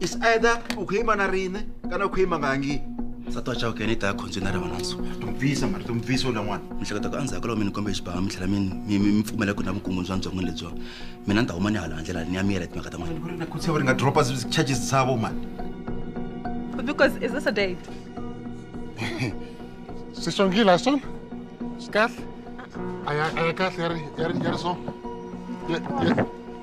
is either u kho yima na rine kana u kho yima nga ngi nsati wa chawukene i ta ya khondzweni na riva na nsuku tumpfisa mari tumpfisa u lan'wana mihleketa ku endzhaku ka loko mi ni kombe xibaha mi tlhela mi mi pfumela ku na vukungundzwi bya byon'wini lebyiwa mina ni ta huma ni hala handlela ni ya mi yela timhaka ta n'wana ku ri na khutsa va ri nga dropa charges savo mani because is this a date sisongile a swona swi kahle a ya kahle ya ri ya ri ya ri so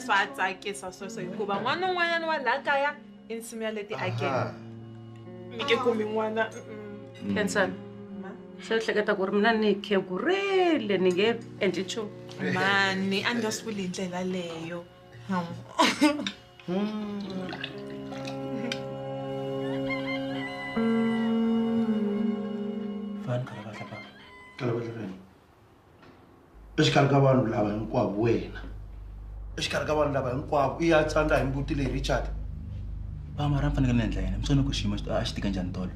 swa tsakisa sweswo hikuva n'wana un'wanyana wa laha kaya Insimu ya leti akela. Mi ke kumi n'wana. Khensani. Se u hleketa ku ri mina ni khegurile ni nge endli nchumu. Mani, a ni nga swi vuli hi ndlela leyo. Fani khala va hlapaka. Khala va hlapaka. exikarhi ka vanhu lava hinkwavo wena exikarhi ka vanhu lava hinkwavo i ya tsandza hi mbuti leyi richard va mara ni fanekele ni endla yini mi swi vona ku xiyimo a xi tika njhani tolo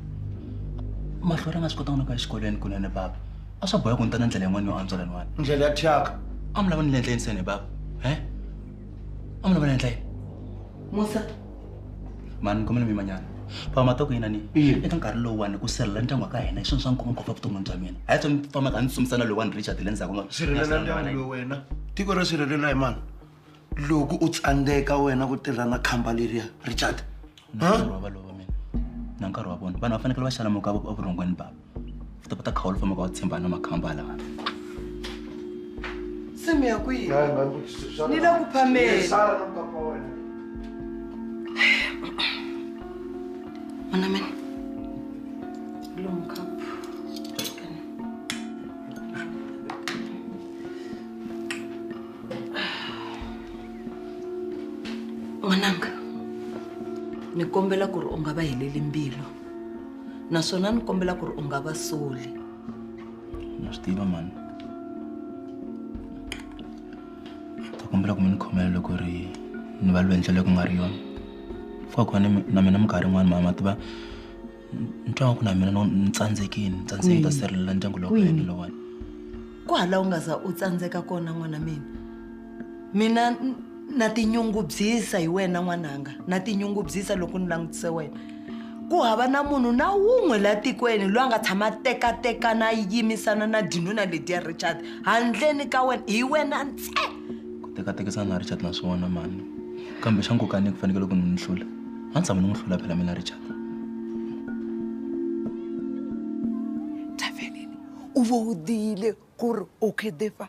mahlo ra nga swi kotanga no ku ya exikolweni kunene bava a swa boha ku ni ta na ndlela yin'wana yo antswa laniwani ndlela ya thyaka a mi lava ni le ndleni seni bava he a mi lava ni endla yini musa mani khomeni mimanyana famba to ku yina ni eka nkarhi lowuwani ku sirhelela ndyangu wa ka hina hi swona swa nkoka ngopfu evuton'wini bya mina a hi tsoni fambaka a ni tsumisana lowuwani richard le ndzhaku sirhelela ndyangu lowu wena tiko ro sirhelela hi mani loko u tsandzeka wena ku tirha na khamba leriya richard nkarhi wa valova mina na nkarhi wa vona vanhu va fanekele va xalamuka evurhongweni bava u ta kota khawu lu fambaka wa tshembana na makhamba lawa se mi ya kwihi ni le ku phameni Mana men. Long cup. N'wananga, ni kombela ku ri u nga va heleli mbilu. naswona ni kombela ku ri u nga va soli na swi tiva mani ta kombela ku mi ni khomela loko ri ni va lwenhla leyi ku nga ri yona fika kona na mina minkarhi yin'wana mama tiva ni twa ku na mina ni tsandzekini ni tsandzeki ta sirhelela ndyangu lowu ka yena lowani ku hala u nga za u tsandzeka kona n'wana mina mina n- na tinyungubyisa hi wena n'wananga na tinyungubyisa loko ni langutise wena ku hava na munhu na wun'we la tikweni loyi a nga tshama a tekatekana a yimisana na dinuna lediya richard handleni ka wena hi wena ntse ku tekatekisana na richard na swona mani kambe xa nkoka ni ku fanekele ku ni n'wi hlula a ni tshama ni n'wi hlula phela mina richard tavelini u vo u diyile ku ri u khidefa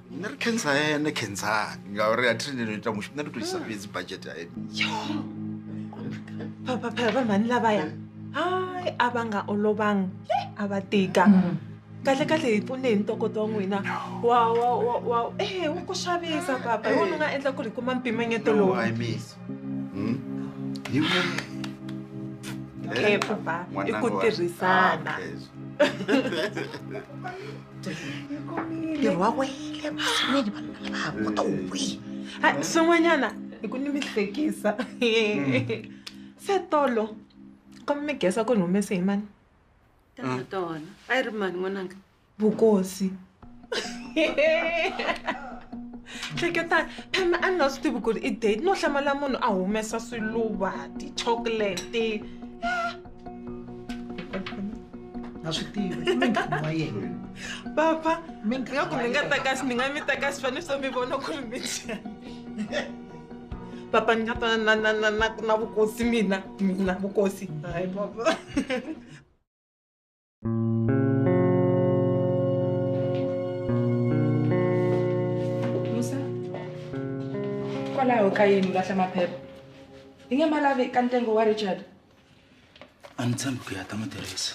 nṋe ri khensa ene khensani ngauri a thiri ndino ita mushumo nṋe ndo to isa fhedzi bajete ya ene vha mani lavaya hayi a va nga olovanga a va tika kahle kahle hi pfune hi ntokoto wa n'wina wa wa wa wa e wu ku xavisa papa hi wona u nga endla ku ri hi kuma mpimanyeto lowu okay papa i ku tirhisana ntirho wa wele vaxinini vanhu va lava haku to wi hayi swin'wanyana hi ku ni mi hlekisa se tolo ka mi gesa ku ni humese hi mani tata tona a yi ri mani n'wananga vukosi hleketani phema a ni nga swi tivi ku ri i date no hlamala munhu a humesa swiluva ti-chocolate a swi tivi i mintlhanu wa yena papa nga ku mi nga ta kasi ni nga mi ta kasi fane so mi vona ku ri mi papa ni nga ta na na na na na vukosi mina mina vukosi hayi papa musa kwalaho ka yini lahla maphepha yi nge ma lavi ka ntsengo wa richard a ni tshembi ku ya ta n'wi tirhisa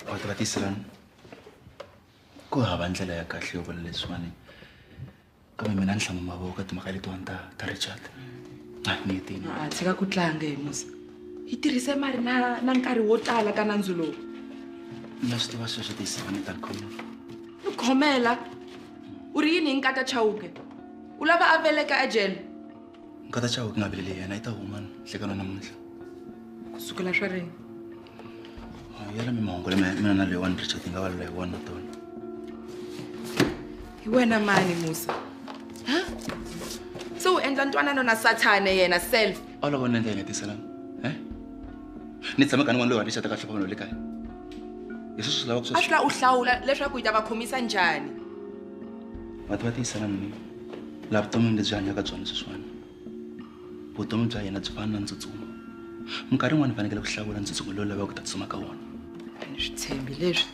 va ta va tiselani ku hava ndlela ya kahle yo vula leswiwani kambe mina ni hlama mavoko ka timhaka letiwani ta ta richard a ni hetini a tshika ku tlanga hi musa yi tirhise mari na na nkarhi wo tala ka nandzu lowu na swi tiva sweswo tiyiseka ni ta khoma ni khomela u ri yini hi nkata chawuke u lava a veleka ejele nkata chawuke nga veleli yena yi ta huma nhlekano namuntlha ku sukela swa rini yala mi mahungu lama mina na leyiwani richard yi nga valula hi wona tona hi wena mani musa ha se u endla ntwanano na sathane yena self olova ni endla yi nga tiselana e ni tshame ka ni n'wana loyi wa richard ka hlopha vanhu le kaya hi sweswi swi lavaka swa a swi la u hlawula leswaku yi ta va khomisa njhani vati va tiyiselana ni laha vuton'wini lebyi hanyaka byona sweswiwana vutomi bya yena byi fana na ntsutsumo minkarhi yin'wana ni fanekele ku hlawula ntsutsumo lowu lavaka ku ta tsutsuma ka wona ni swi tshembi leswi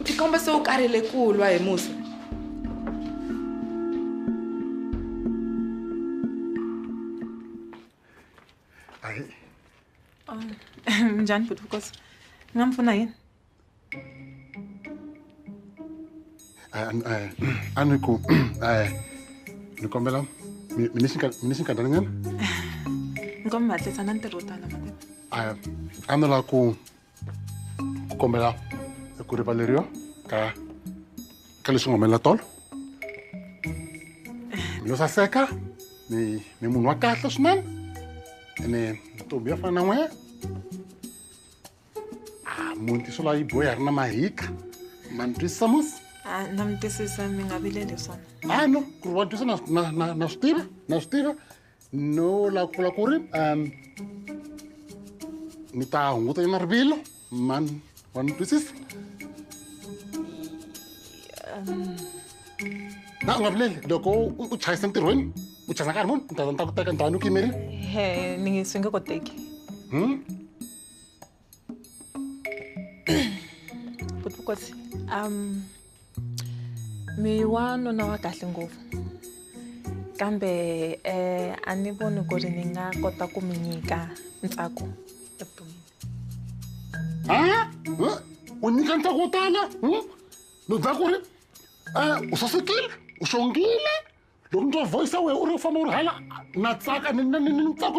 u tikomba se u karhele ku lwa hi musa njhani bhuti vukosi ni nga mi pfuna yini Ano ko, ni kombela mi ni xi nkarhi nyana ni komi mi hatlisa na ntirho wo tala mativa a ni lava ku ku kombela ku rivaleriwa ka ka leswi nga humelela tolo mi lo saseka ni ni munhu wa kahle swinene ene ntombi ya fana na n'wehe muti swi lava yi boya ri na mahika ma ni twisisa mos a na mi twisisa mi nga vileli swona a no ku ri wa twisa na na- na- na swi tiva na swi tiva no la ku vula ku ri um ni ta hunguta yona rivilo man wa ni twisisa na u nga vileli loko u- u chayisa entirhweni u chayisa nkarhi muni ni ta ni ta ku teka ni ta va ni ku yimerile he ni swi nge koteki Hmm? kutikosi um mi wa nuna wa kahle ngopfu kambe eh, a ni voni ku ri ni nga kota ku mi nyika ntsako evuton'wini ha u nyika ntsako wo tala ni dza ku ri um u sasekile u xongile loko ni twa voice ya wena u ri u famba u ri hala na tsaka ni ni- ni- ni ntsako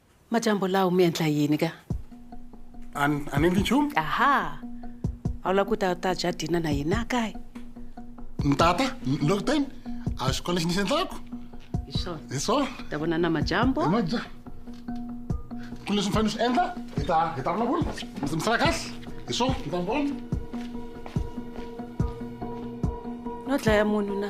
Majambo lawo mi endla yini ka? A ni- a ni endli nchumu. Aha. A wu lava ku ta ta dya dina na hina kaya? Ntata, ni lo kuteni. A xikolo lexi ni xi endlaku. Hi swona. Hi swona. Ta vona na majambo. Maja. Ku leswi ni fanele ni swi endla, hi ta hi ta vulavula. Mi mi sala kahle. Hi swona, ni ta mi vona. No dlaya munhu na.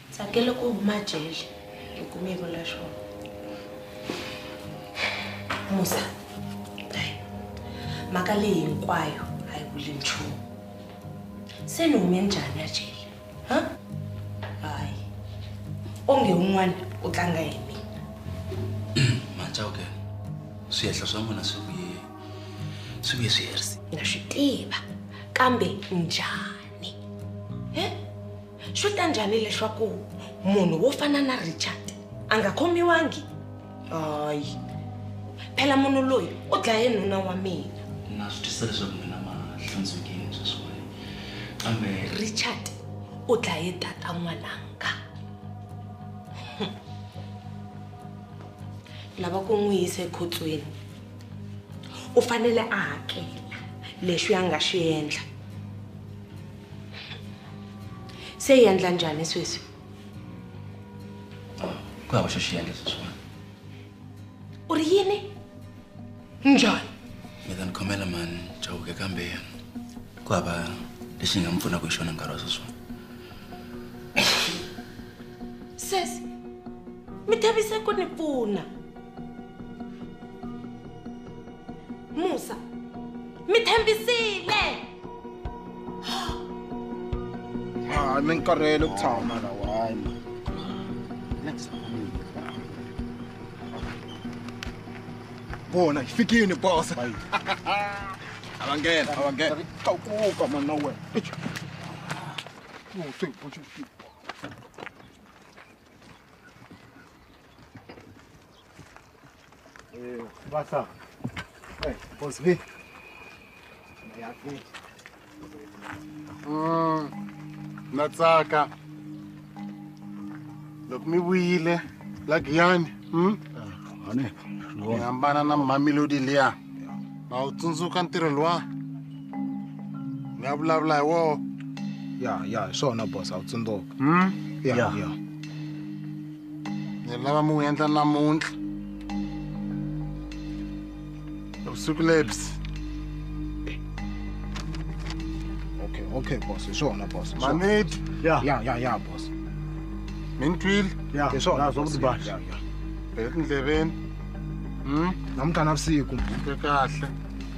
Tsakele ku huma jele hi ku mi vula swona. Musa, hayi mhaka leyi hinkwayo a yi vuli nchumu. Se ni hume njhani ya jele? Ha? Hayi. Onge un'wana u tlanga hi mina. Machauke, swihehla swa n'wina swi vuye swi vuye swi herise. Na swi tiva kambe njhani? He? swi ta njhani leswaku munhu wo fana na richard a nga khomiwangi hayi phela munhu loyi u dlaye nuna wa mina na swi twisa leswaku mina ma hlantswekile sweswiwani kambe richard u dlaye tata n'wananga lava ku n'wi yisa ekhotsweni u fanele a hakela leswi a nga swi endla se yi endla njhani sweswi ku hava xo xi endla sweswiwani u ri yini njhani mi ta ni khomela mani chawuke kambe ku hava lexi nga mi pfunaka hi xona nkarhi wa sweswiwani sesi mi thavise ku ni pfuna musa mi tshembisile hayi mi nkarhele ku tshama lawa hayi ma next bona hi fikini bosa avangena avangena tlakuka mana wena Eh, Basa. Eh, boss V. Mm, na tsaka loko mi vuyile la giyani hmm? mi hambana na mamelodi liya ma wu tsundzuka ntirho luwa ni ya vulavula hi woho ya ya hi swona boss a wu tsundzuka Hmm? ya Yeah. ya ni lava mi wu endla namuntlha vusiku lebyi okay okay boss hi swona boss manidi ya ya ya ya boss mi ni twile ya hi swona zwa kuti boss ya ya etindleveni hmm namuntlha na vusiku kahle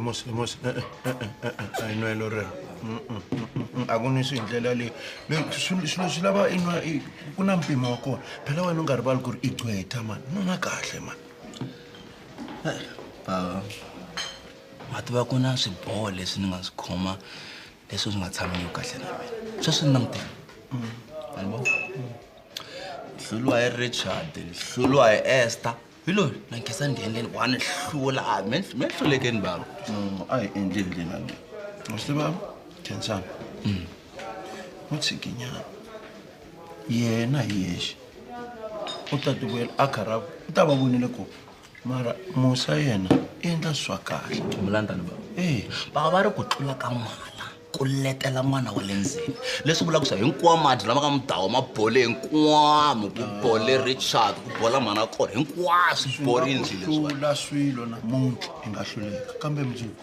mos mos i nwa lo rero a ku nwi swi hi ndlela leyi swilo swi lava i nwa ku na mpimo wa kona phela wena u nga rivali ku ri i gcweta mani no na kahle mani bava ma tiva ku na swiboho leswi ni nga swi khoma leswi swi nga tshamiki kahle na mina sweswi ni langutela albo hluluwa hi richard hluluwa hi ester hi loyi na nkhensa ndhengeni wa ni hlula a mi mi hlulekeni bava no a hi endli hi ndlela leyi u swi tiva khensani u tshikinyana yena hi yexe u ta tivuyela a karhaku u ta va vonile ku mara musa yena i endla swa kahle mulandani bava ee bava va ri ku tlula ka mali ku letela n'wana wa le ndzeni leswi vulaka swa hinkwawo madi lama nga mudawa ma bole hinkwamu ku bole richard ku bola mhana kona hinkwaswo swi borile nje leswiwa hlula swilo namuntlha i nga hluleka kambe mundzuku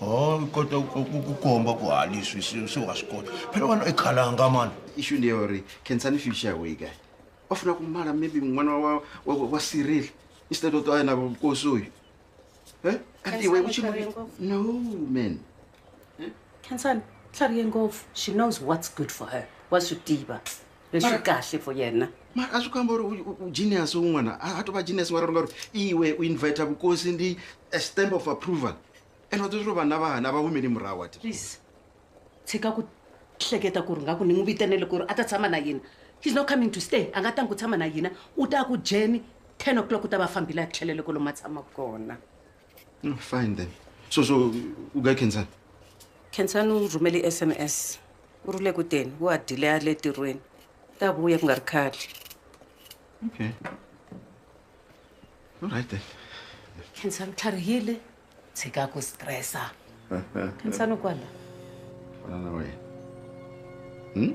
o i kota ku- ku ku komba ku ha leswi se se wa swi kota phela wena i khalanga mani ishu ndi ya uri khensani future ya weyi kahle va funa ku mala maybe n'wana wa, wa, wa, wa cyril instead of to ayena vukosi uyu Eh? kanti iwe Khensani, uchimu- u chave ngopfu. no man hmm? khensani tlharihe ngopfu she knows what's good for her wa swi tiva leswi kahle for yena mara a swi kamba uri ugenius un'wana a to va genius wa rona uri iwe u invita vukosi ndi a stamp of approval and wa tozviro vanhu lava hana va humeli murahu ati please tshika ku hleketa ku ri nga ku ni n'wi vitenele ku ri a ta tshama na yena he's not coming to stay a nga tangi ku tshama na yena u ta ku jeni ten o'clock u ta va fambile a tlhelele kolomu a tshama kona No, mm, fine then. So, so, u guy Kensan? Kensan u rhumele SMS. U ri le ku teni, u ha dile a le tirhweni. Ta vuya ku nga ri khale. Okay. All right then. Kensan u tlharihile, tshika ku stressa. Kensan u kwala. Kwala na wena. Hmm?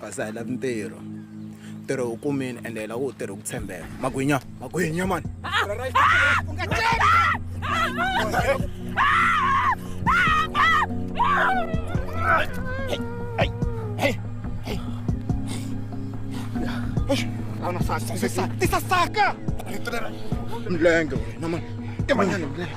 kasi a hi lavi ntirho ntirho wu kumini ende hi lava wu tirhi ku tshembeka magwinya magwinya mani tisasaka mlenge wena mani timanyana mlenge